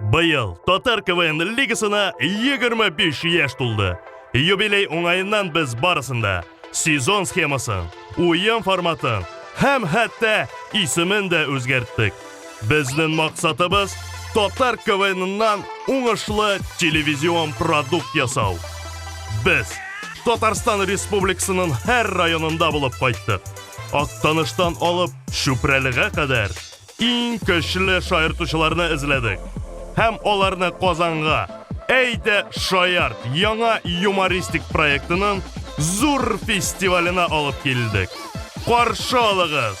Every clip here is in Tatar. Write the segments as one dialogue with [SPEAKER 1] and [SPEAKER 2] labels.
[SPEAKER 1] Быел Татар КВН лигасына 25 яшь тулды. Юбилей уңаеннан без барысында сезон схемасын, уен форматын һәм хәтта исемен дә үзгәрттек. Безнең максатыбыз Татар КВНнан уңышлы телевизион продукт ясау. Без Татарстан Республикасының һәр районында булып кайттык. Актаныштан алып Чүпрәлегә кадәр иң көчле шаяртучыларны эзләдек һәм аларны Казанга Әйдә шаярт яңа юмористик проектының зур фестиваленә алып килдек. Каршы алыгыз!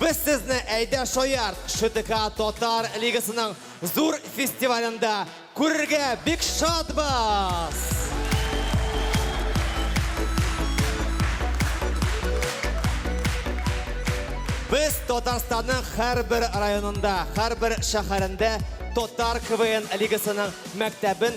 [SPEAKER 2] Без сезне Әйдә шаярт! ШТК Татар лигасының зур фестивалендә күрергә бик шатбыз! Без Татарстанның һәрбер районында, һәрбер шәһәрендә Татар КВН лигасының мәктәбен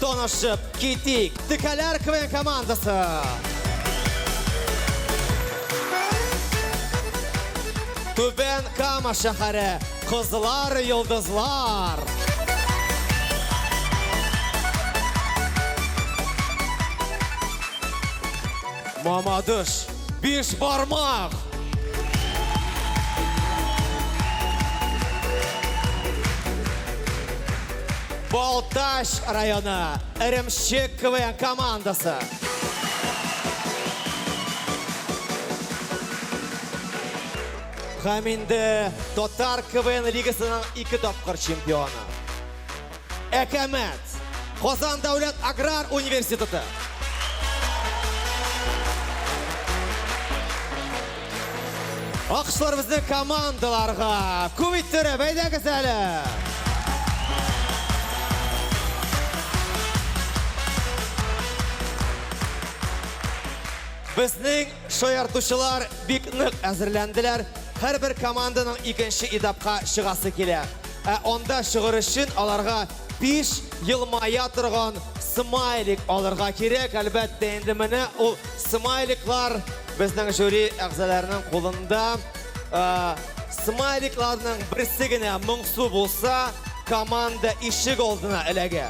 [SPEAKER 2] Танышып китик, Текәләр КВН командасы! Түбән Кама шәһәре, Кызлар Йолдызлар! Мамадыш! Биш бармак! Балтач районы Эремшек КВН командасы. Һәм инде Татар КВН лигасының ике тапкыр чемпионы. Әкәмәт! Казан дәүләт аграр университеты! Акышларыбызны командаларга күп иттерә, бәйдәгез әле! Безнең шаяртучылар бик нык әзерләнделәр. Һәрбер команданың икенче этапка чыгасы килә. Ә анда чыгыр өчен аларга биш елмая торган смайлик алырга кирәк. Әлбәттә, инде менә ул смайликлар безнең жюри әгъзаларының кулында. Смайликларның берсе генә моңсу булса, команда ишек алдына эләгә.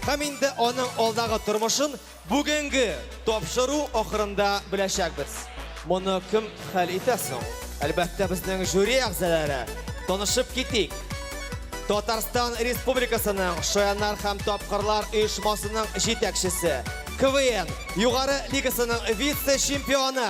[SPEAKER 2] Һәм инде аның алдагы тормышын Бүгенге тапшыру ахырында беләчәкбез. Моны кем хәл итә соң? Әлбәттә, безнең жюри әгъзалары. Танышып китик. Татарстан Республикасының Шаяннар һәм тапкырлар оешмасының җитәкчесе, КВН Югары лигасының вице-чемпионы,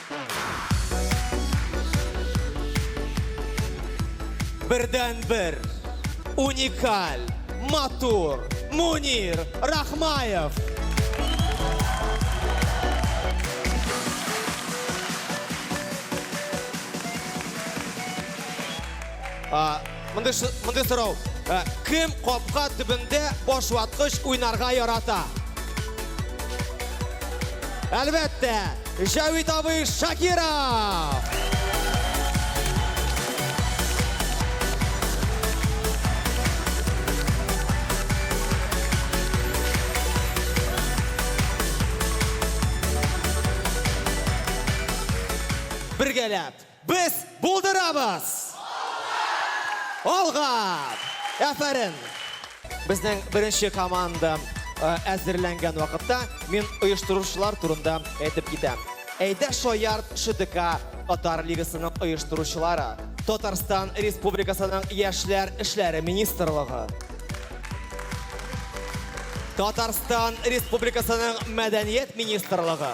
[SPEAKER 2] Бердәнбер, уникаль, матур, Мунир Рахмаев. А, Мондый ш- мондый сорау. Ә, Кем капка төбендә баш ваткыч уйнарга ярата? Әлбәттә, Җавит абый Шакиров! Бергәләп! Без булдырабыз! Алга! Алга! Әфәрин! Безнең беренче команда әзерләнгән вакытта, мин оештыручылар турында әйтеп китәм. Әйдә шаярт ШДК татар лигасының оештыручылары, Татарстан Республикасының Яшьләр эшләре министрлыгы, Татарстан Республикасының Мәдәният министрлыгы,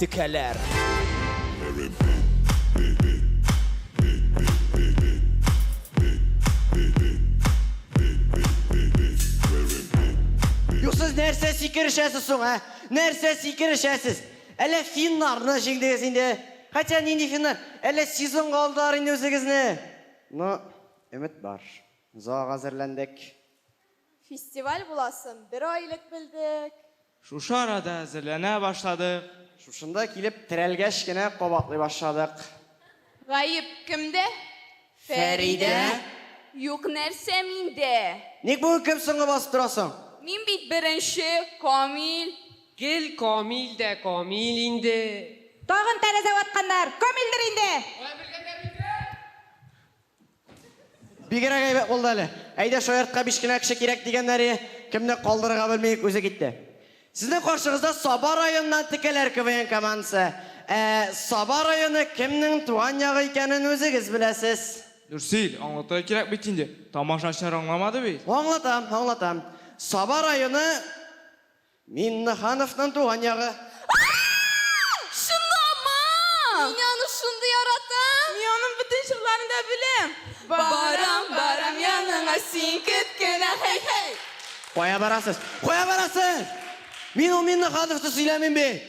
[SPEAKER 2] Текәләр.
[SPEAKER 3] Юк, сез нәрсә сикерешәсез соң, ә? Нәрсә сикерешәсез? Әллә финнарны җиңдегез инде? Хотя нинди финнар, әллә сезонга алдылар инде үзегезне? Ну, өмет бар. Зоага әзерләндек.
[SPEAKER 4] Фестиваль буласын бер ай элек белдек. Шушы арада
[SPEAKER 5] әзерләнә башладык. Шушында килеп
[SPEAKER 3] терәлгәч кенә кабатлый башладык. Гаеп
[SPEAKER 4] кемдә? Фәридә? Юк нәрсә миндә. Ник бүген кем
[SPEAKER 3] соңгы басып тора соң? Мин бит беренче,
[SPEAKER 4] Камил. Гел
[SPEAKER 6] Камил дә Камил инде. Тагын тәрәзә
[SPEAKER 7] ватканнар, Камилдер инде! Алай белгәннәр микән?
[SPEAKER 3] Бигрәк әйбәт булды әле. Әйдә, шаяртка биш кенә кеше кирәк дигәннәре, кемне калдырырга белми үк үзе китте. Сезнең каршыгызда Саба районыннан Текәләр КВН командасы. Ә Саба районы кемнең туган ягы икәнен үзегез беләсез. Нурсил, аңлатырга
[SPEAKER 5] кирәк бит инде, тамашачылар аңламады бит. Аңлатам, аңлатам.
[SPEAKER 3] Саба районы Миннехановның туган ягы. Ааа! Чынлама!
[SPEAKER 4] Мин аны шундый яратам! Мин аның бөтен җырларын да беләм! Барам, барам яныңа син кет кенә, һей-һей! Кая барасыз?
[SPEAKER 3] Кая барасыз? Мин ул Миннехановны сөйләмим бит!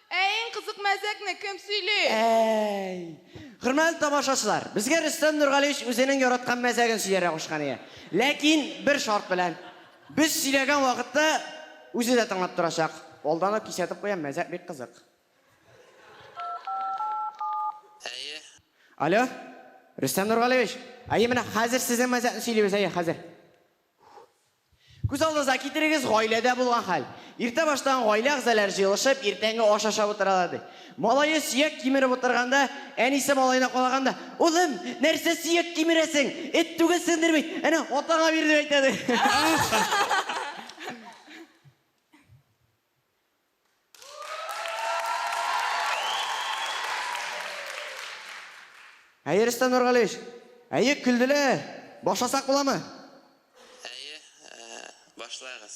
[SPEAKER 8] Ә иң кызык мәзәкне кем сөйли? Әй!
[SPEAKER 3] Хөрмәтле тамашачылар, безгә Рөстәм Нургалиевич үзенең яраткан мәзәген сөйләргә кушкан иде. Ләкин бер шарт белән. Без сөйләгән вакытта үзе дә тыңлап торачак. Алдан ук кисәтеп куям, мәзәк бик кызык. Әйе. Алло, Рөстәм Нургалиевич. Әйе, менә хәзер сезнең мәзәкне сөйлибез, әйе, хәзер. Күз алдыгызга китерегез, гаиләдә булган хәл. Иртә баштан гаилә әгъзаләре җыелышып, иртәнге аш ашап утыралар, ди. Малае сөяк кимереп утырганда, әнисе малаена калаганда, Улым, нәрсә сөяк кимерәсең? Эт түгелсеңдер бит! Әнә, атаңа бир, дип әйтә, ди. Әйе, Рөстәм Нургалиевич. Әйе, көлделәр. Башласак буламы? Әйе,
[SPEAKER 9] башлагыз.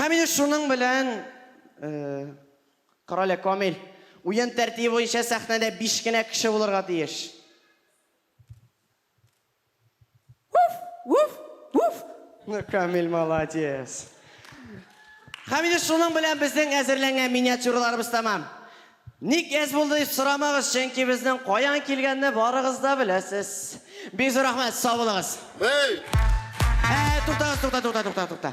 [SPEAKER 3] Һәм инде шуның белән, э, Карале Камил, уен тәртибе буенча сәхнәдә биш кенә кеше булырга тиеш. Уф! Уф! Уф! Ну Камиль молодец! Һәм инде шуның белән безнең әзерләнгән миниатюраларыбыз тәмам. Ник әз булды дип сорамагыз, чөнки безнең каян килгәнне барыгыз да беләсез. Бик зур рәхмәт, сау булыгыз! Әй! Әй, туктагыз, тукта, тукта, тукта, тукта.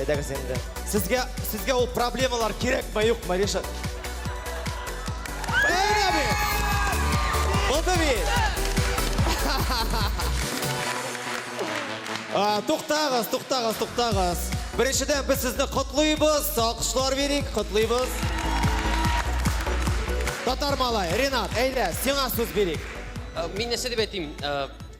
[SPEAKER 2] Әйдәгез инде. Сезгә, сезгә ул проблемалар кирәкме, юкмы, Ришат? Бәйрә бит! Булды бит! Туктагыз, туктагыз, туктагыз. Беренчедән без сезне котлыйбыз, алкышлар бирик, котлыйбыз. Татар малай, Ренат, әйдә, сиңа сүз бирик. Мин нәрсә дип
[SPEAKER 10] әйтим?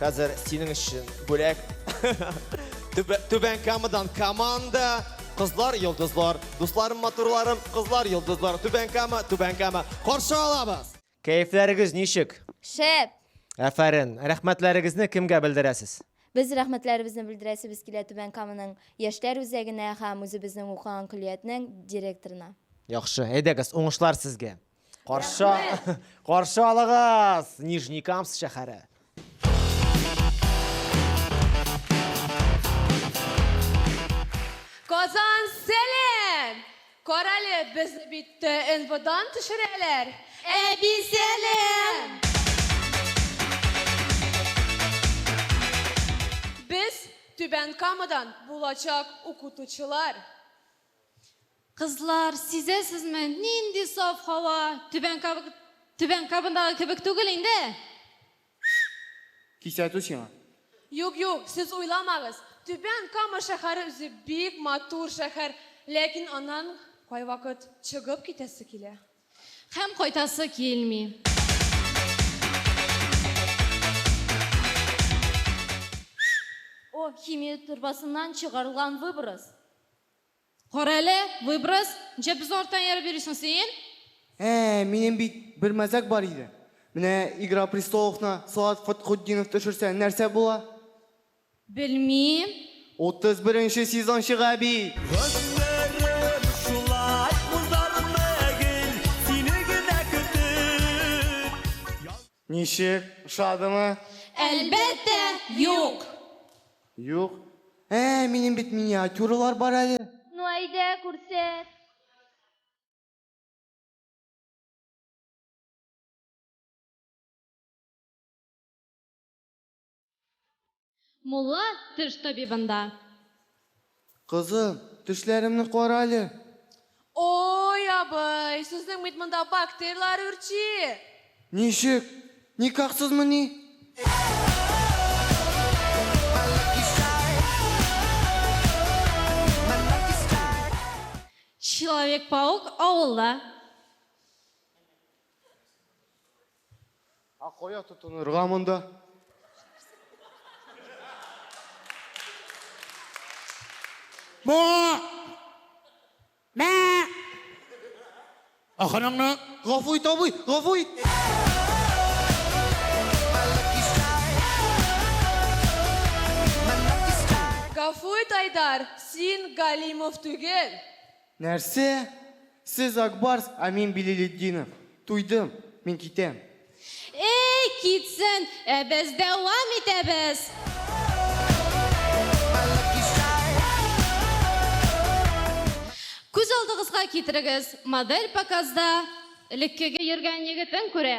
[SPEAKER 2] Хәзер синең өчен бүләк. Түбән Камадан команда. Кызлар, йолдызлар, дусларым, матурларым, кызлар, йолдызлар, Түбән Кама, Түбән Кама. Каршы алабыз. Кәефләрегез ничек? Шәп.
[SPEAKER 4] Әфәрен.
[SPEAKER 2] Рәхмәтләрегезне кемгә белдерәсез? Без рәхмәтләребезне
[SPEAKER 4] белдерәсебез килә Түбән Каманың яшьләр үзәгенә һәм үзебезнең укыган көллиятнең директорына. Яхшы, әйдәгез,
[SPEAKER 2] уңышлар сезгә. Каршы, каршы алыгыз, Нижний Камс шәһәре.
[SPEAKER 8] Казан сәлем! Карале, без бит НВОдан төшерәләр. Әби
[SPEAKER 4] сәлем!
[SPEAKER 8] Без Түбән Камадан булачак укытучылар.
[SPEAKER 4] Кызлар, сизәсезме, нинди саф һава, Түбән Каб... Түбән Кабындагы кебек түгел инде!
[SPEAKER 5] Кисәтү сиңа. Юк, юк,
[SPEAKER 8] сез уйламагыз, Түбән Кама шәһәре үзе бик матур шәһәр, ләкин аннан кайвакыт чыгып китәсе килә. Һәм
[SPEAKER 4] кайтасы килми. О, химия торбасыннан чыгарылган выброс.
[SPEAKER 11] Карале, выброс, нчә без арттан ияреп йөрисең син? Ә, минем
[SPEAKER 5] бит бер мәзәк бар иде. Менә Игра престоловны Салават Фатхутдинов төшерсә, нәрсә була?
[SPEAKER 11] Белмим. Утыз
[SPEAKER 5] беренче сезон чыга бит! Гомерем шулай узармы гел сине генә көтеп. Ничек, ошадымы? Әлбәттә,
[SPEAKER 11] юк! Юк.
[SPEAKER 5] Ә, минем бит миниатюралар бар әле. Ну әйдә,
[SPEAKER 4] күрсәт.
[SPEAKER 11] Мулла теш табибында.
[SPEAKER 5] Кызым, тешләремне карале. Ой,
[SPEAKER 8] абый, сезнең бит монда бактерияләр үрчи. Ничек?
[SPEAKER 5] Никахсызмыни?
[SPEAKER 11] Человек-паук авылда.
[SPEAKER 5] А кая тотынырга монда? Бу!
[SPEAKER 12] Мә! Аханаңны! Гафу ит, абый,
[SPEAKER 5] гафу ит!
[SPEAKER 8] Гафу ит, Айдар, син Галимов түгел. Нәрсә?
[SPEAKER 5] Сез Ак Барс, ә мин Билилетдинов. Туйдым. Мин китәм. Әй, китсен,
[SPEAKER 11] ә без дәвам итәбез! Күз алдыгызга китерегез, модель показда элеккеге йөргән егетен күрә.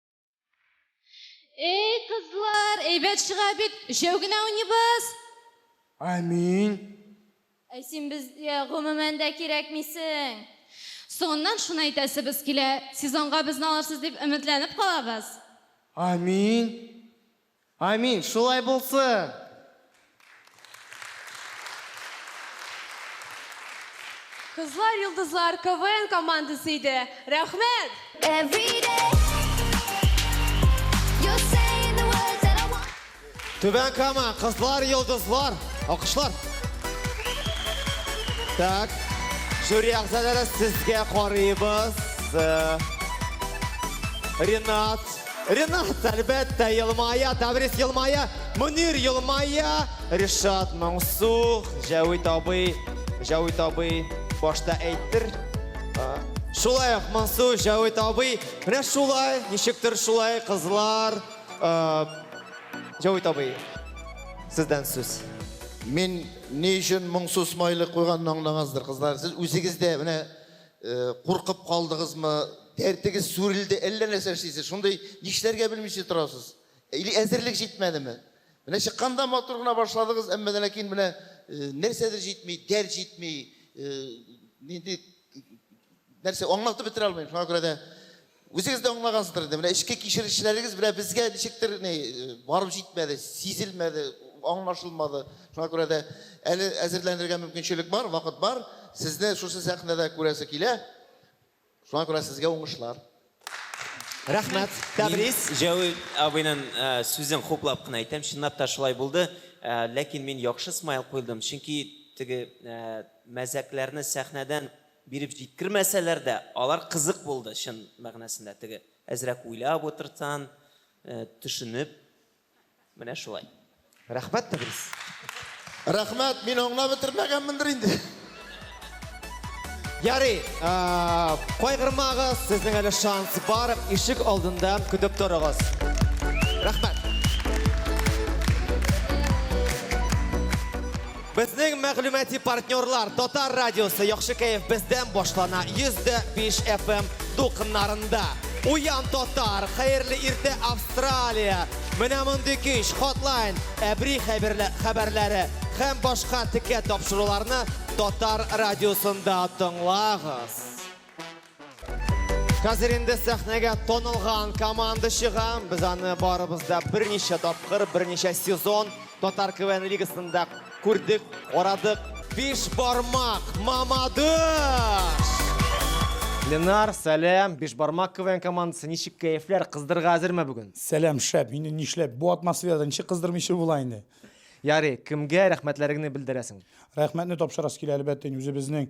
[SPEAKER 11] Эй, кызлар, әйбәт чыга бит. Өчәү генә уйныйбыз.
[SPEAKER 5] Амин.
[SPEAKER 11] Ә син безгә гомумән дә кирәкмисең. Соңыннан шуны әйтәсебез килә. Сезонга безне алырсыз дип өметләнеп калабыз. Амин.
[SPEAKER 5] Амин, шулай булсын!
[SPEAKER 8] Кызлар йолдызлар КВН командасы иде. Рәхмәт!
[SPEAKER 2] Түбән Кама, Кызлар йолдызлар. Алкышлар. Так. Жюри әгъзалары сезгә карыйбыз. Ренат. Ренат, әлбәттә, елмая, Таврис елмая, Мөнир елмая, Ришат моңсу, Җәвит абый, Җәвит абый башта әйттер. Шулай ук моңсу, Җәвит абый, менә шулай, ничектер шулай, кызлар. Җәвит абый, сездән сүз. Мин
[SPEAKER 12] ни өчен моңсу смайлик куйганны аңлагансыздыр, кызлар. Сез үзегез дә менә Куркып калдыгызмы? Дәртегез сүрелде, әллә нәрсә эшлисез, шундый нишләргә белмичә торасыз. Или әзерлек җитмәдеме? Менә чыкканда матур гына башладыгыз, әмма дә ләкин менә э, нәрсәдер җитми, дәрт җитми, э, нинди нәрсә аңлатып бетерә алмыйм. Шуңа күрә дә Үзегез дә аңлагансыздыр инде, менә эчке кичерешләрегез белән безгә ничектер ни барып җитмәде, сизелмәде, аңлашылмады. Шуңа күрә дә әле әзерләнергә мөмкинчелек бар, вакыт бар. Сезне шушы сәхнәдә күрәсе килә. Шуңа күрә сезгә уңышлар.
[SPEAKER 2] Рәхмәт. Тәбрис. Җәүи
[SPEAKER 13] абыйның сүзен хуплап кына әйтәм, чынлап та шулай булды. Ләкин мин яхшы смайл куйдым, чөнки теге мәзәкләрне сәхнәдән Биреп җиткермәсәләр дә, алар кызык булды, чын мәгънәсендә, теге әзрәк уйлап утыртсан, төшенеп, менә шулай. Рәхмәт, Тәбрис.
[SPEAKER 2] Рәхмәт,
[SPEAKER 12] мин аңлап бетермәгәнмендер инде.
[SPEAKER 2] Ярый, кайгырмагыз, сезнең әле шанс бар, ишек алдында көтеп торыгыз. Рәхмәт. Безнең мәгълүмати партнерлар Татар радиосы Яхшы кәеф бездән башлана 105 FM дулкыннарында. Уян татар, хәерле иртә Австралия. Менә мондый көч, хотлайн, әбри хәберлә- хәбәрләре һәм башка текә тапшыруларны Татар радиосында тыңлагыз. Хәзер инде сәхнәгә танылган команда чыга. Без аны барыбыз да берничә тапкыр, берничә сезон татар КВН лигасында күрдек, карадык. Биш бармак Мамадыш! Ленар, сәлам. Биш бармак КВН командасы, ничек кәефләр, кыздырырга әзерме бүген? Сәлам, шәп. Инде
[SPEAKER 14] нишләп, бу атмосферада ничек кыздырмыйчы була инде? Ярый, кемгә
[SPEAKER 2] рәхмәтләреңне белдерәсең? Рәхмәтне тапшырасы
[SPEAKER 14] килә, әлбәттә, үзебезнең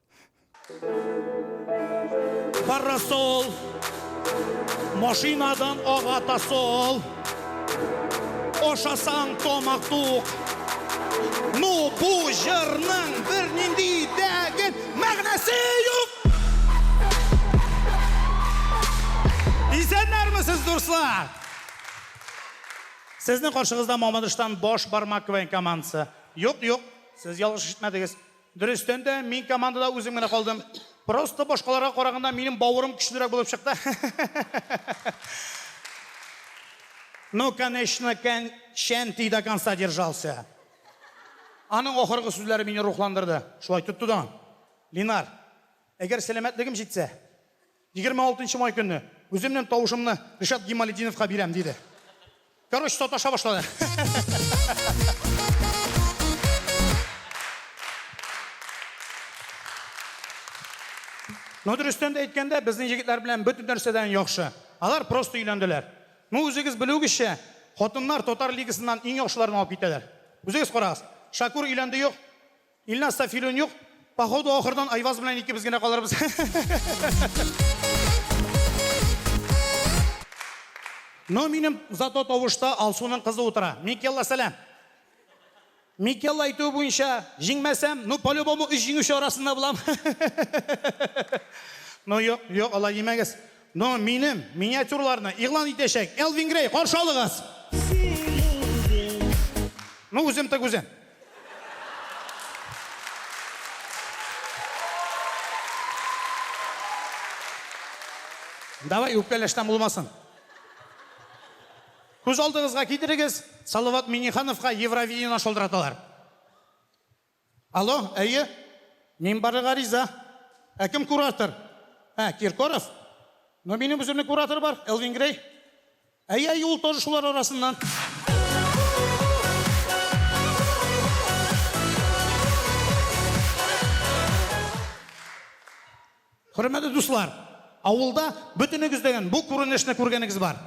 [SPEAKER 15] Парасол Машинадан ага тасол Ашасаң тамак тук Ну бу җырның бер нинди дәген мәгънәсе юк Исәннәрмесез, дуслар! Сезнең каршыгызда Мамадыштан баш бармак командасы. Юк, юк, сез ялгыш ишетмәдегез. Дөрестән дә, мин командада үзем генә калдым. Просто башкаларга караганда минем бавырым көчлерәк булып чыкты. Ну, конечно, кән Шәнти до конца держался. Аның ахыргы сүзләре мине рухландырды. Шулай тотты да. Линар, әгәр сәламәтлегем җитсә, Егерме алтынчы май көнне үземнең тавышымны Ришат Гималетдиновка бирәм, диде. Короче, саташа башлады. Ну, дөрестән дә әйткәндә, безнең егетләр белән бөтен нәрсәдән яхшы. Алар просто өйләнделәр. Ну, үзегез белүегезчә, хатыннар татар лигасыннан иң яхшыларын алып китәләр. Үзегез карагыз, Шакур өйләнде юк? Илназда филүн юк. Походу ахырдан Айваз белән икебез генә калырбыз. Но минем зато тавышта Алсуның кызы утыра. Микелла, сәлам. Микелла әйтүе буенча, җиңмәсәм, ну по-любому өч җиңүче арасында булам. Ну юк, юк, алай димәгез. Ну, минем миниатюрларны игълан итәчәк Элвин Грей, каршы алыгыз! Ну, үзем тык үзем. Давай, үпкәләштән булмасын. Күз алдыгызга китерегез, Салават Миннехановка Евровидениене шалтыраталар. Алло, әйе. Мин барырга риза. Ә кем куратор? Ә, Киркоров? Ну, минем үземнең куратор бар, Элвин Грей. Әйе, әйе, ул тоже шулар арасыннан. Хөрмәтле дуслар! Авылда бөтенегездәгән бу күренешне күргәнегез бар.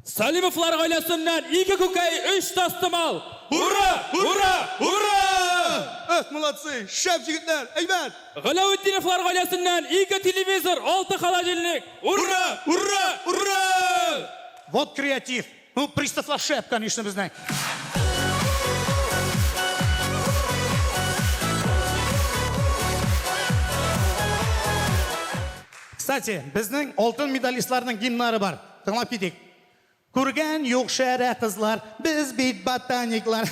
[SPEAKER 15] Салимовлар
[SPEAKER 16] гаиләсеннән ике күкәй, өч тастымал! Ура! Ура! Ура! Эх, молодцы!
[SPEAKER 15] Шәп җегетләр! Әйбәт! Галәветдиновлар
[SPEAKER 16] гаиләсеннән ике телевизор, алты холодильник! Ура! Ура! Ура! Вот креатив!
[SPEAKER 15] Ну, пристав Лашеп, конечно, мы знаем. Кстати, безнең алтын медалистларның гимнары бар. Тыңлап китик. Күргән юк шәрә кызлар, без бит ботаниклар.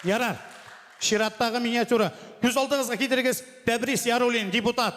[SPEAKER 15] Ярар. Чираттагы миниатюра. Күз алдыгызга китерегез, Тәбрис Ярулин, депутат.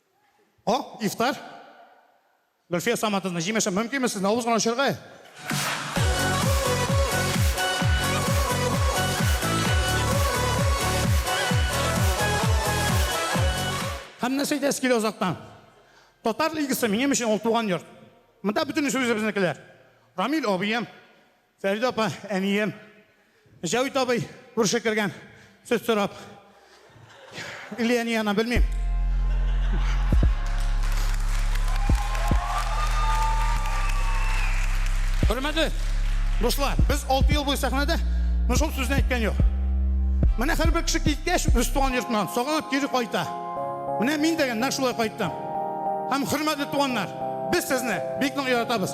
[SPEAKER 15] О, ифтар. Гөлфия Саматовна, җимешем, мөмкинме сезне авыз гына очырга? Һәм нәрсә әйтәсе килә озактан? Татар лигасы минем өчен ул туган йорт. Монда бөтен сүзебезнекеләр. Рамил абыем, Фәридә апа, әнием. Җәвит абый күрше кергән, сөт сорап. Или әни янына, белмим. Хөрмәтле дуслар, без 6 ел буе сәхнәдә, но шул сүзне әйткән юк. Менә һәрбер кеше киткәч, үз туган йортыннан сагынып кире кайта. Менә мин дә нәкъ шулай кайттым. Һәм, хөрмәтле туганнар, без сезне бик нык яратабыз.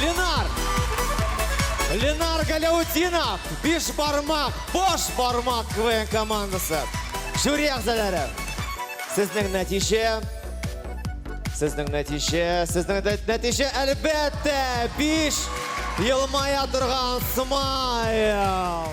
[SPEAKER 2] Ленар! Ленар Галяутдинов, биш бармак, бош бармак КВН командасы. Жюри әгзәләре. Сезнең нәтиҗә, сезнең нәтиҗә, сезнең нәтиҗә әлбәттә, биш елмая торган смайл.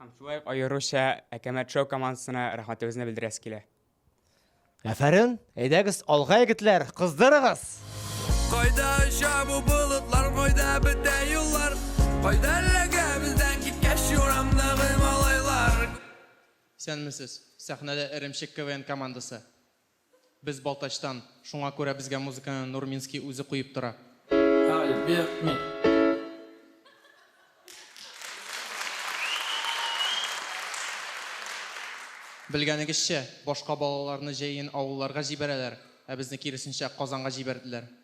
[SPEAKER 17] Һәм шулай ук
[SPEAKER 18] аеруча Әкәмәт шоу командасына рәхмәтебезне белдерәсе килә.
[SPEAKER 2] Әфәрен! Әйдәгез, алга егетләр, кыздырыгыз! Кайда
[SPEAKER 16] оча бу болытлар, кайда бетә юллар, кайда эләгә бездән киткәч юрамдагы малайлар.
[SPEAKER 17] Исәнмесез! Сәхнәдә Эремчек КВН командасы. Без Балтачтан, шуңа күрә безгә музыканы Нурминский үзе куеп тора. Альберт мин. Белгәнегезчә, башка балаларны җәен авылларга җибәрәләр, ә безне киресенчә Казанга җибәрделәр.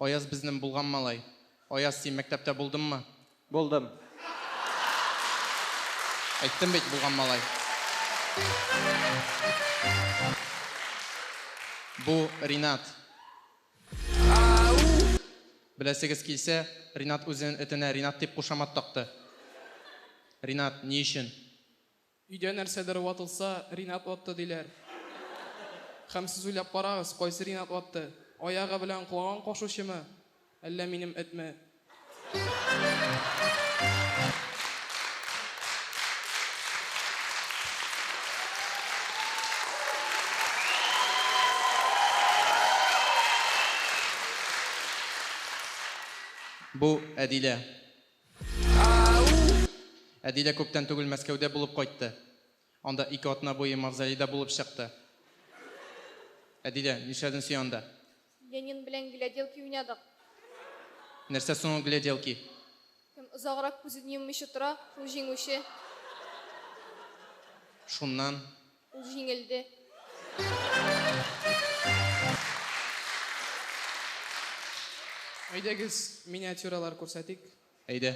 [SPEAKER 17] Аяз безнен булган малай. Аяз, син мәктәптә булдынмы? Булдым. Әйттем бит, булган малай. Бу Ринат. Беләсегез килсә, Ринат үзенен этенә Ринат дип кушамат такты. Ринат, ни өчен? Өйдә
[SPEAKER 19] нәрсәдер ватылса, Ринат ватты, диләр. Һәм сез уйлап карагыз, кайсы Ринат ватты? Аягы белән колагын кашучымы, әллә минем этме?
[SPEAKER 17] Бу, Әдилә. Әди дә күптән түгел Мәскәүдә булып кайтты. Анда ике атна буе мавзолейда булып чыкты. Әдилә, нишләдең син анда? Ленин белән
[SPEAKER 4] гляделки уйнадык.
[SPEAKER 17] Нәрсә соң ул гляделки? Кем
[SPEAKER 4] озаграк күзен йоммыйча тора, шул җиңүче.
[SPEAKER 17] Шуннан Ул җиңелде.
[SPEAKER 19] Әйдәгез, миниатюралар күрсәтик.
[SPEAKER 17] Әйдә.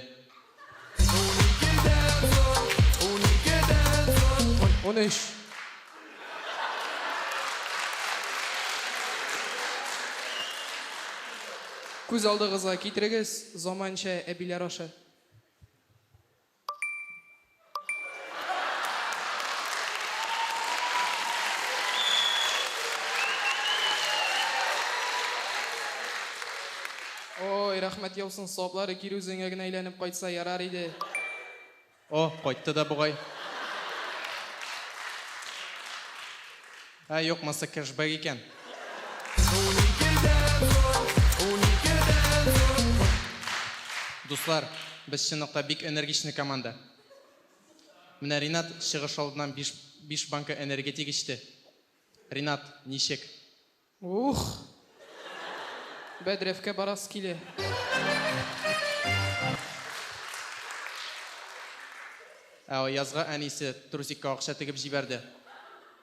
[SPEAKER 19] Унөч. Күз алдыгызга китерегез, заманча әбиләр ашы. Ой, рәхмәт яусын, саваплары кире үзеңә генә әйләнеп кайтса ярар иде. О,
[SPEAKER 17] кайтты да бугай. Ә юкмаса кэшбэк икән. Дуслар, без чынлыкта бик энергичный команда. Менә Ринат чыгыш алдыннан биш биш банка энергетик эчте. Ринат, ничек? Ух!
[SPEAKER 19] Бәдрәфкә барасы килә.
[SPEAKER 17] Ә Аязга әнисе трусикка акча тегеп җибәрде.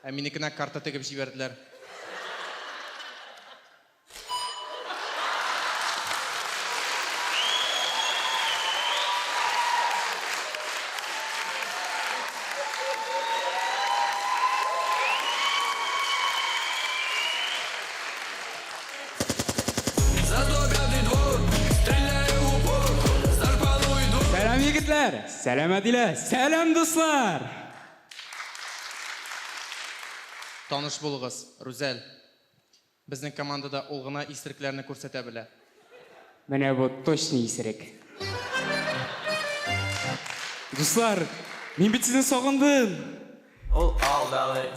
[SPEAKER 17] Ә минекенә карта тегеп җибәрделәр.
[SPEAKER 18] Сәлам, егетләр! Сәлам, Әдилә! Сәлам, дуслар!
[SPEAKER 17] Таныш булыгыз, Рүзәл. Безнең командада ул гына исерекләрне күрсәтә белә. Менә
[SPEAKER 18] бу точно исерек. Дуслар, мин бит сезне сагындым! Ул
[SPEAKER 16] алдалый.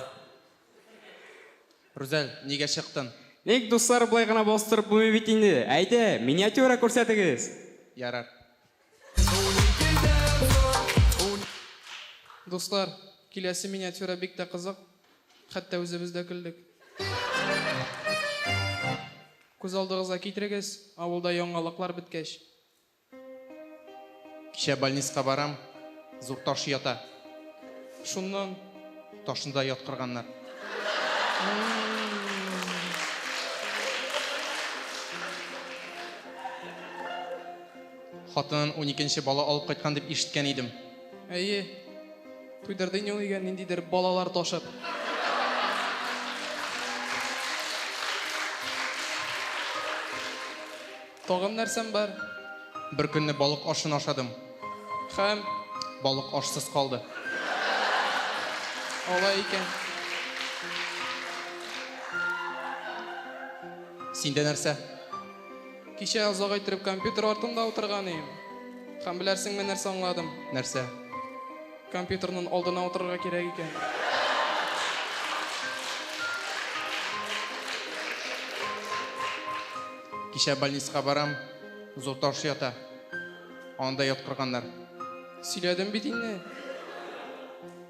[SPEAKER 17] Рүзәл, нигә чыктын? Ник, дуслар, болай
[SPEAKER 18] гына бастырып булмый бит инде. Әйдә, миниатюра күрсәтегез! Ярар.
[SPEAKER 19] Дуслар, киләсе миниатюра бик тә кызык. Хәтта үзебез дә көлдек. Күз алдыгызга китерегез, авылда яңалыклар беткәч.
[SPEAKER 17] Кичә больниска барам, зур таш ята.
[SPEAKER 19] Шуннан.
[SPEAKER 17] Ташны да яткырганнар. Хатынын уникенче бала алып кайткан дип ишеткән идем. Әйе.
[SPEAKER 19] Туйдырды инде ул өйгә ниндидер балалар ташып. Тагын нәрсәм бар? Бер көнне
[SPEAKER 17] балык ашын ашадым. Хәм?
[SPEAKER 19] Балык
[SPEAKER 17] ашсыз калды.
[SPEAKER 19] Алай икән.
[SPEAKER 17] Синдә нәрсә? Кичә
[SPEAKER 19] озак иттереп компьютер артында утырган ием. Һәм беләрсеңме нәрсә аңладым? Нәрсә? Компьютерның алдына утырырга кирәк икән.
[SPEAKER 17] Кичә больницага барам, зур таш ята. Анда яткырганнар. Сөйләдем
[SPEAKER 19] бит инде.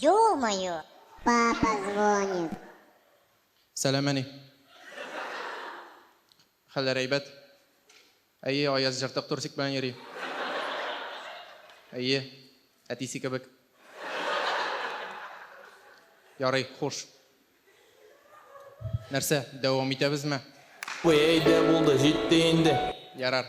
[SPEAKER 20] Ё-моё! Папа звонит.
[SPEAKER 17] Сәләмәни. Хәлләре әйбәт? Әйе, Аяз җыртык турсик белән йөри. Әйе, әтисе кебек. Ярый, хуш. Нәрсә, дәвам итәбезме? Әйдә,
[SPEAKER 16] булды, җитте инде. Ярар,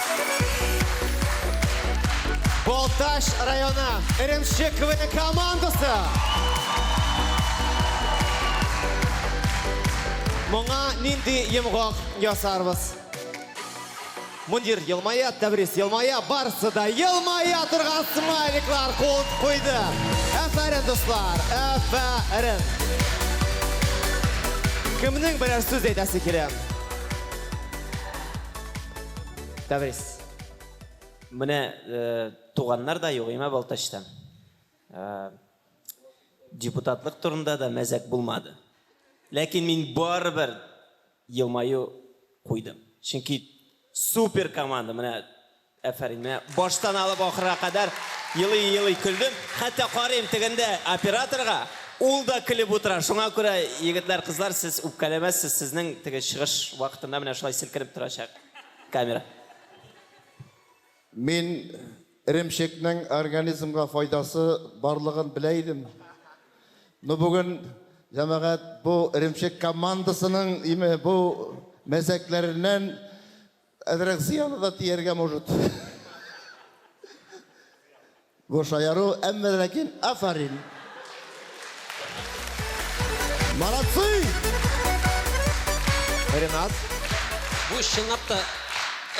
[SPEAKER 2] Балтач районы Эремче КВН командасы. Моңа нинди йомгак ясарбыз? Мундир елмая, Тәбрис елмая, барсы да елмая торган смайликлар кул куйды. Әфәрен, дуслар, әфәрен. Кемнең берәр сүз әйтәсе килә? Тәбрис.
[SPEAKER 13] Менә туганнар да юк, имә Балтачта. Депутатлык турында да мәзәк булмады. Ләкин мин барыбер елмаю куйдым. Чөнки супер команда, менә әфәрин, менә баштан алып ахырга кадәр елый-елый көлдем. Хәтта карыйм тегендә операторга. Ул да көлеп утыра. Шуңа күрә, егетләр, кызлар, сез үпкәләмәссез, сезнең теге чыгыш вакытында менә шулай селкенеп торачак камера.
[SPEAKER 12] Мин эремчекнең организмга файдасы барлыгын белә идем. Ну бүген, җәмәгать, бу эремчек командасының име бу мәзәкләреннән Әзрәк зыяны да тияргә может. Бу шаяру, әмма ләкин афарин. Молодцы!
[SPEAKER 2] Ренат. Бу
[SPEAKER 10] чынлап та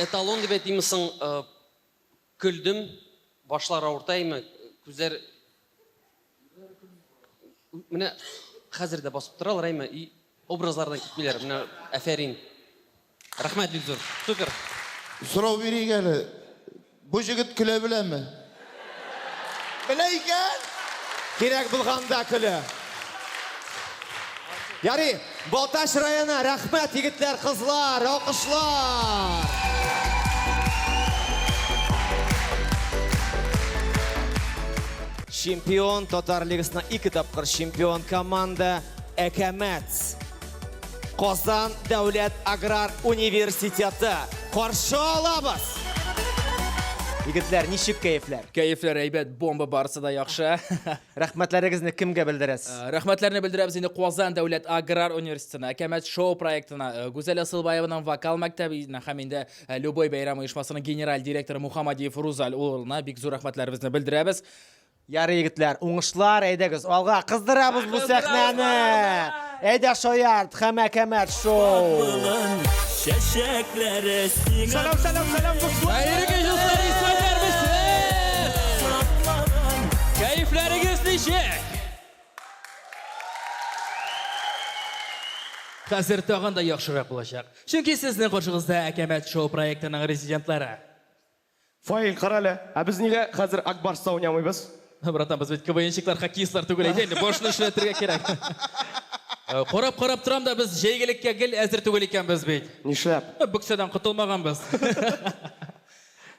[SPEAKER 10] эталон дип әйтимме соң? Көлдем, башлар авыртаймы, күзләр Менә хәзер дә басып торалар, әйме, и образлардан китмиләр. Менә әфәрин. Рәхмәт бик зур. Супер. Сорау
[SPEAKER 12] бирик әле. Бу җегет көлә беләме? Белә икән! Кирәк
[SPEAKER 2] булганда көлә. Ярый. Балтач районы, рәхмәт, егетләр, кызлар, алкышлар! Чемпион, Татар Лигасына ике тапкыр чемпион команда Әкәмәт. Казан дәүләт аграр университеты. Каршы алабыз! Егетләр, ничек кәефләр? Кәефләр әйбәт,
[SPEAKER 21] бомба барысы да яхшы. Рәхмәтләрегезне
[SPEAKER 2] кемгә белдерәс? Рәхмәтләрне белдерәбез
[SPEAKER 21] инде Казан дәүләт аграр университетына, Әкәмәт шоу проектына, Гүзәл Асылбаеваның вокал мәктәбенә һәм инде Любой бәйрәм оешмасының генераль директоры Мухамадиев Рузаль улына бик зур рәхмәтләребезне белдерәбез. Ярый,
[SPEAKER 2] егетләр, уңышлар, әйдәгез, алга, кыздырабыз бу сәхнәне! Әйдә шаярт, хәмәкәмәт шоу. Чәчәкләре
[SPEAKER 9] сиңа. Сәлам, сәлам, сәлам, дуслар. Хәерле кич, дуслар,
[SPEAKER 21] исмәлләр без. Кәефләрегез ничек? Хәзер тагын да яхшырак булачак. Чөнки сезнең каршыгызда Әкәмәт шоу проектының резидентлары.
[SPEAKER 1] Фаил, карале, ә без нигә хәзер Ак Барста уйнамыйбыз? Братан, без бит
[SPEAKER 21] КВНщиклар, хоккеистлар түгел әйдә инде, башны эшләтергә кирәк. Карап-карап торам да, без җәйгелеккә гел әзер түгел икәнбез бит. Нишләп? Бөксәдән
[SPEAKER 1] котылмаганбыз.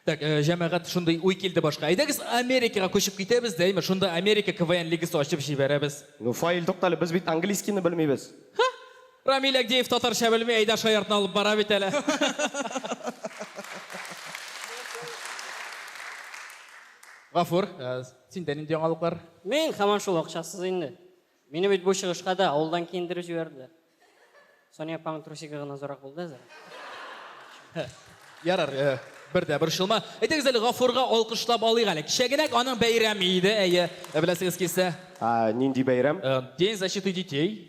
[SPEAKER 21] Так, җәмәгать, шундый уй килде башка. Әйдәгез Америкага күчеп китәбез дә, әйме, шунда Америка КВН лигасы ачып җибәрәбез. Ну, Фаил, туктале,
[SPEAKER 1] без бит английскийны белмибез. Ха! Рамил
[SPEAKER 21] Әгдиев татарча белми, әйдә шаяртны алып бара бит әле. Гафур, синдә нинди яңалыклар? Мин һаман шул
[SPEAKER 22] акчасыз инде. Мине бит бу чыгышка да авылдан киендереп җибәрделәр. Соня апаң трусигы гына зурак булды әзер. Ярар,
[SPEAKER 21] бер дә борчылма. Әйтегез әле, Гафурга алкышлап алыйк әле. Кичә генә аның бәйрәме иде, әйе. Беләсегез килсә. Нинди бәйрәм?
[SPEAKER 1] День защиты
[SPEAKER 21] детей.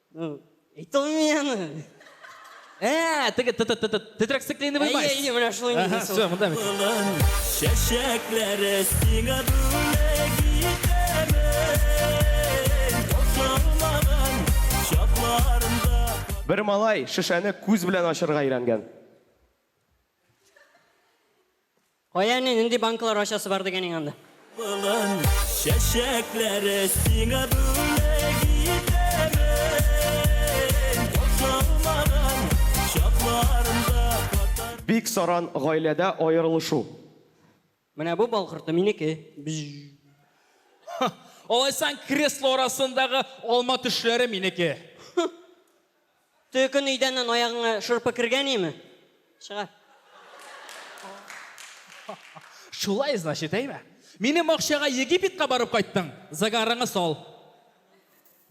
[SPEAKER 21] Ну, и то
[SPEAKER 22] мены. Ә,
[SPEAKER 21] теге т- т- т- т- тетрәк стеклейновый Әйе, майс. әйе, менә шулай Ага, нигез ул.
[SPEAKER 22] все, монда бит. Улым,
[SPEAKER 9] чәчәкләре сиңа бүләк итәмен. Тасламаган чакларында Бер
[SPEAKER 1] малай шешәне күз белән ачарга өйрәнгән.
[SPEAKER 22] Кая әни, нинди банкалар ачасы бар дигән иң анда? Былын чәчәкләре
[SPEAKER 9] сиңа бүләк итәмен, Каушамаган чакларымда катар.
[SPEAKER 1] Бик саран гаиләдә аерылышу.
[SPEAKER 22] Менә бу бал корты минеке. Бжжж.
[SPEAKER 21] Алайсаң, кресло арасындагы алма төшләре минеке. Төкөн
[SPEAKER 22] өйдәннән аягыңа шырпы кергәниме? Чыгар.
[SPEAKER 21] Шулай, значит, әйме? Минем акчага Египетка барып кайттың, загарыңы сал.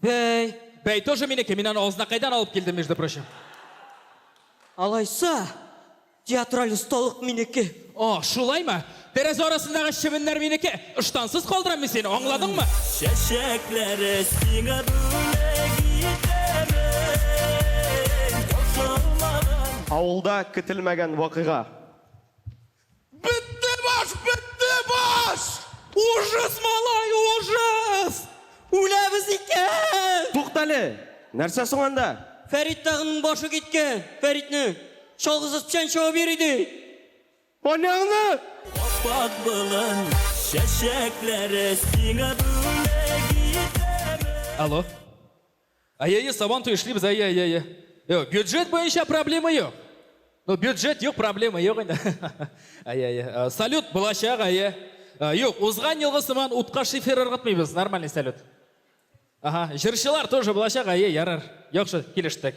[SPEAKER 21] Бәй. Бәй тоже минеке, мин аны Азнакайдан алып килдем, между прочим. Алайса,
[SPEAKER 22] Театраль осталык минеке! О, шулаймы?
[SPEAKER 21] Тәрәзә арасындагы чебеннәр минеке! Ыштансыз калдырам мин сине, аңладыңмы? Чәчәкләре
[SPEAKER 9] сиңа бүләк итәмен, кушылмаган.
[SPEAKER 1] Авылда көтелмәгән вакыйга. Бетте
[SPEAKER 9] баш, бетте баш! Ужас, малай, ужас! Үләбез
[SPEAKER 22] икән! Туктале!
[SPEAKER 1] Нәрсә соң анда? Фәрит тагын
[SPEAKER 22] башы киткән! Фәритне! Чалгысыз печән чабып йөри ди! Аняңны!
[SPEAKER 1] Аппак
[SPEAKER 9] болын чәчәкләре сиңа бүләк итәбез. Алло.
[SPEAKER 21] Әйе-е, Сабантуй эшлибез, әйе-әйе-әйе. Юк, бюджет буенча проблема юк. Ну, бюджет юк, проблема юк инде. Әйе-әйе. Э, салют булачак, әйе. Э, юк, узган елгы сыман утка шифер ыргытмыйбыз, нормальный салют. Ага, җырчылар тоже булачак, әйе, ярар. Яхшы, килештек.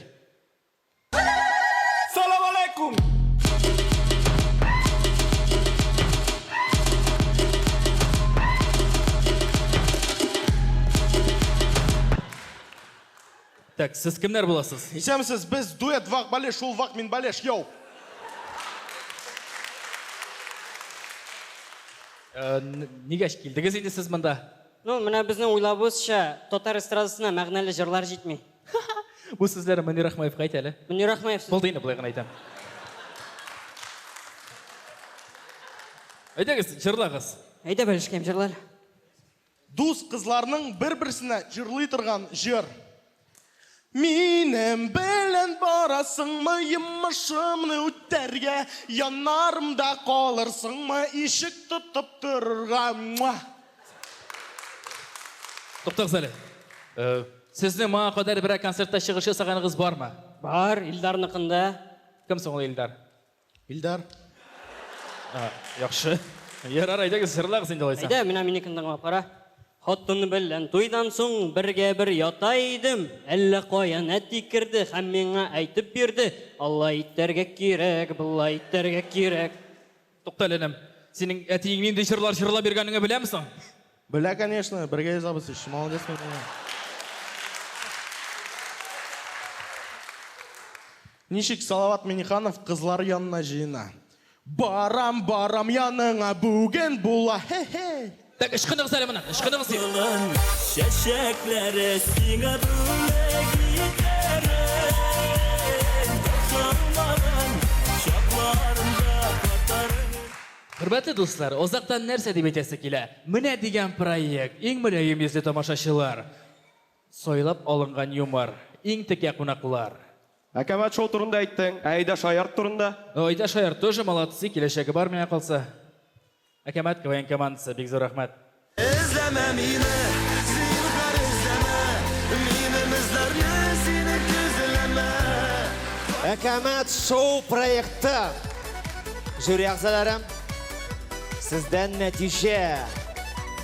[SPEAKER 21] Так, сез кемнәр буласыз? Исәмсез, без дуэт
[SPEAKER 1] вак балеш, шул вак мин балеш, йоу.
[SPEAKER 21] Э, нигә килдегез инде сез монда? Ну, менә безнең
[SPEAKER 22] уйлавыбызча, татар эстрадасына мәгънәле җырлар җитми. Бу
[SPEAKER 21] сүзләр Мөнир Ахмаевка әйт әле. Мөнир Ахмаев сез... Булды инде,
[SPEAKER 22] болай гына әйтәм.
[SPEAKER 21] Әйдәгез, җырлагыз. Әйдә, бәлешкәем,
[SPEAKER 22] җырлар.
[SPEAKER 1] Дус кызларның бер-берсенә җырлый торган җыр. Минем белән барасыңмы йомышымны үтәргә, янарымда калырсыңмы ишек тотып торырга?
[SPEAKER 21] Туктагыз әле. Э, Сезнең моңа кадәр
[SPEAKER 22] берәр
[SPEAKER 21] концертта чыгыш ясаганыгыз бармы? Бар, Илдарныкында. Кем соң ул Илдар? Илдар.
[SPEAKER 15] А,
[SPEAKER 21] яхшы. Ярар, әйдәгез, җырлагыз инде алайса. Әйдә, менә минекен тыңлап кара.
[SPEAKER 22] Хатын белән туйдан соң бергә бер ята идем. Әллә каян әти керде һәм миңа әйтеп бирде, Алай итәргә кирәк, болай итәргә кирәк. Тукта әле, энем.
[SPEAKER 21] Синең әтиең нинди җырлар җырлап йөргәнеңе беләме соң? Белә, конечно,
[SPEAKER 1] бергә язабыз ич. Молодец, Мәрдәнә. Ничек Салават Миниханов кызлар янына җыена? Барам, барам яныңа, бүген була, һе-һей! Так, ышкыныгыз әле
[SPEAKER 21] моннан, ышкыныгыз дип. Чәчәкләре
[SPEAKER 9] сиңа бүләк итәрен, Сылмаган чакларында катарып. Хөрмәтле
[SPEAKER 21] дуслар, озактан нәрсә дип әйтәсе килә? Менә дигән проект! Иң мөлаем йөзле тамашачылар, сайлап алынган юмор, иң текә кунаклар. Ә кабат шоу
[SPEAKER 1] турында әйттең, ә Айда Шаярт турында? Айда Шаярт тоже
[SPEAKER 21] молодцы, киләчәге бар, миңа калса. Әкәмәт КВН командасы, бик зур рәхмәт! Эзләмә
[SPEAKER 9] мине, зинһар эзләмә, Минем эзләрне сине көзләмә.
[SPEAKER 2] Әкәмәт шоу проекты жюри әгъзалары, сездән нәтиҗә.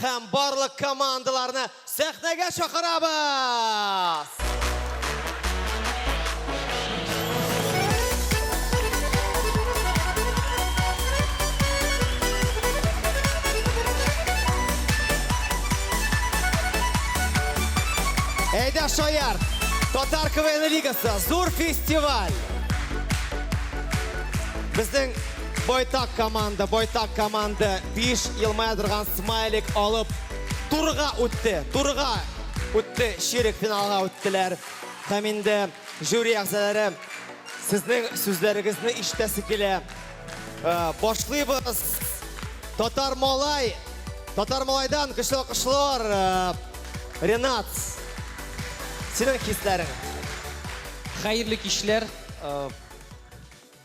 [SPEAKER 2] Һәм барлык командаларны сәхнәгә чакырабыз! Әйдә, шаяр! Татар КВН лигасы, зур фестиваль! Безнең Байтак команда, байтак команда биш елмая торган смайлик алып турыга үтте. Турыга үтте, ширек финалга үттеләр. Һәм инде жюри әгъзалары сезнең сүзләрегезне ишетәсе килә. Э, башлыйбыз. Татар малай. Татар малайдан көчле алкышлар. Э, Ренат. Синең хисләрең.
[SPEAKER 10] Хәерле кичләр. Э,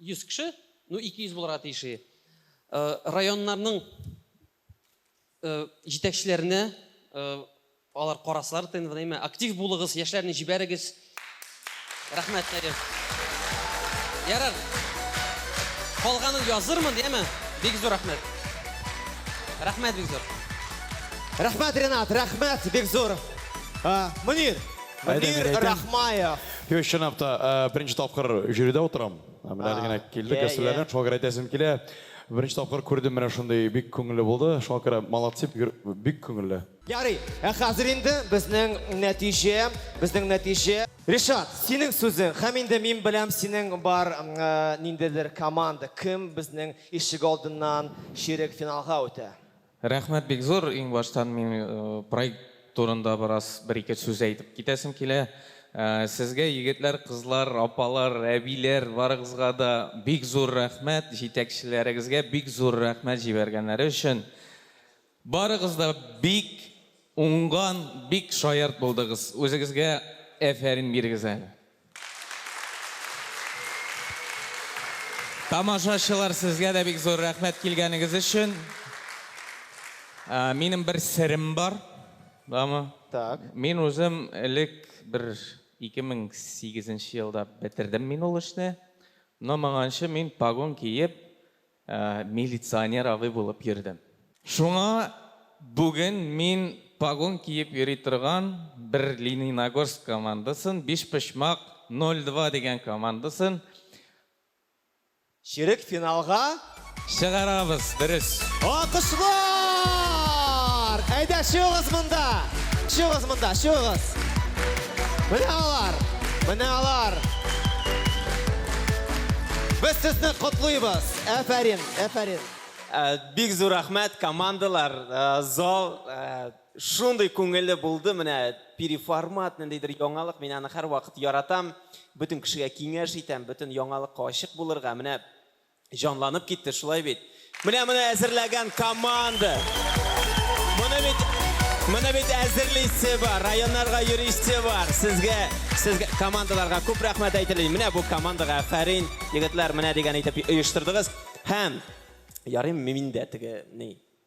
[SPEAKER 10] 100 кеше, ну 200 булырга тиеш и районнарның җитәкчеләренә алар карасалар тнвнеме актив булыгыз яшьләрне җибәрегез рәхмәт нәрим ярар калганын язырмын яме бик зур рәхмәт рәхмәт бик зур
[SPEAKER 2] рәхмәт ренат рәхмәт бик зур мөнир мөнир рахмаев Юк, чынлап
[SPEAKER 1] та, беренче тапкыр жюрида утырам. Менә әле генә килдек, гастрольләрдән, шуңа күрә әйтәсем килә. Беренче тапкыр күрдем, менә шундый бик күңелле булды. Шуңа күрә молодцы, бик күңелле. Ярый, ә
[SPEAKER 2] хәзер инде безнең нәтиҗә, безнең нәтиҗә. Ришат, синең сүзең, һәм инде мин беләм, синең бар ниндидер команда, кем безнең ишегалдыннан чирек финалга үтә? Рәхмәт бик
[SPEAKER 3] зур, иңбаштан мин проект турында бераз бер-ике сүз әйтеп китәсем килә. Сезгә егетләр, кызлар, апалар, әбиләр барыгызга да бик зур рәхмәт, җитәкчеләрегезгә бик зур рәхмәт җибәргәннәре өчен. Барыгыз да бик уңган, бик шаярт булдыгыз. Үзегезгә әфәрин бирегез әле. Тамашачылар, сезгә дә бик зур рәхмәт килгәнегез өчен. Ә, Минем бер серем бар. Бамы? Так. Мин үзем элек бер 2008 елда бетердем мин ул эшне. Но моңанчы мин погон киеп, Милиционер абый булып йөрдем. Шуңа бүген мин погон киеп йөри торган бер Лениногорск командасын, бишпочмак 02 дигән командасын.
[SPEAKER 2] Чирек финалга. Чыгарабыз,
[SPEAKER 3] дөрес. Алкышлар!
[SPEAKER 2] Әйдә, чыгыгыз монда! Чыгыгыз монда, чыгыгыз! Менә алар! Менә алар! Без сезне котлыйбыз! Әфәрин, әфәрин! Бик
[SPEAKER 13] зур рәхмәт, командалар, зал шундый күңелле булды, менә переформат, ниндидер яңалык, мин аны һәрвакыт яратам, бөтен кешегә киңәш итәм, бөтен яңалыкка ачык булырга, менә Җанланып китте, шулай бит? Менә моны әзерләгән команда! Моны бит, моны бит әзерлисе бар, районнарга йөрисе бар. Сезгә, сезгә, командаларга күп рәхмәт әйтеле. Менә бу командага афәрин, егетләр, менә дигән итеп оештырдыгыз. Һәм, ярыйм мин дә теге, ни,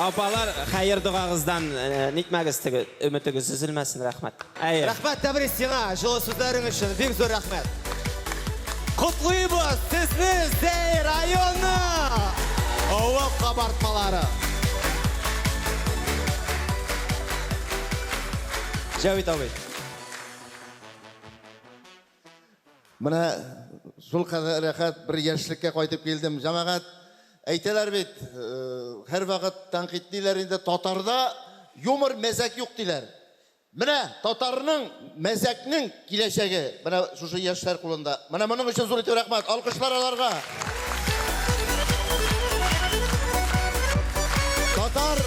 [SPEAKER 13] Апалар, хәер догагыздан нитмәгез, теге өметегез өзелмәсен, рәхмәт. Әйе. Рәхмәт, Тәбрис,
[SPEAKER 2] сиңа җылы сүзләрең өчен, бик зур рәхмәт. Котлыйбыз сезне, Зәй районы! Авыл кабартмалары. Җәвит абый.
[SPEAKER 12] Менә шул кадәр рәхәт бер яшьлеккә кайтып килдем. Җәмәгать, әйтәләр бит, һәрвакыт тәнкыйтьлиләр инде, татарда юмор, мәзәк юк диләр. Менә татарның мәзәкнең киләчәге менә шушы яшьләр кулында. Менә моның өчен зур итеп рәхмәт. Алкышлар аларга. Татар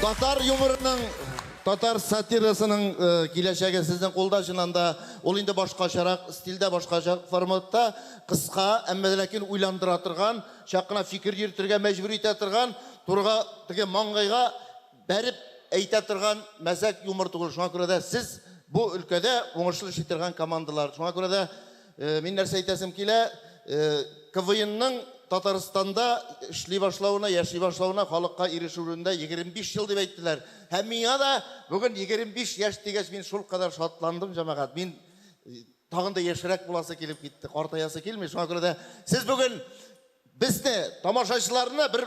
[SPEAKER 12] Татар юморының Татар сатирасының киләчәге сезнең кулда, чыннан да. Ул инде башкачарак стильдә, башкача форматта, кыска, әмма дә ләкин уйландыра торган, чак кына фикер йөртергә мәҗбүр итә торган, турыга, теге маңгайга бәреп әйтә торган мәзәк юмор түгел. Шуңа күрә дә сез бу өлкәдә уңышлы эшли торган командалар. Шуңа күрә дә Мин нәрсә әйтәсем килә, КВНның Татарстанда эшли башлавына, яши башлавына, халыкка ирешүенә 25 ел дип әйттеләр. Һәм миңа да бүген 25 яшь дигәч, мин шулкадәр шатландым, җәмәгать. Мин тагын да яшьрәк буласы килеп китте, картаясы килми. Шуңа күрә дә сез бүген безне, тамашачыларны бер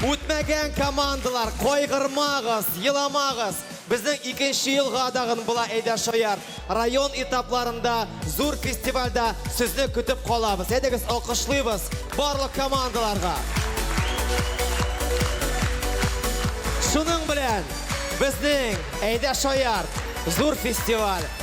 [SPEAKER 2] Үтмәгән командалар, кайгырмагыз, еламагыз! Безнең икенче елга да гын була Әйдә шаярт! Район этапларында, зур фестивальдә сезне көтеп калабыз. Әйдәгез, алкышлыйбыз барлык командаларга! Шуның белән безнең Әйдә шаярт! Зур фестиваль!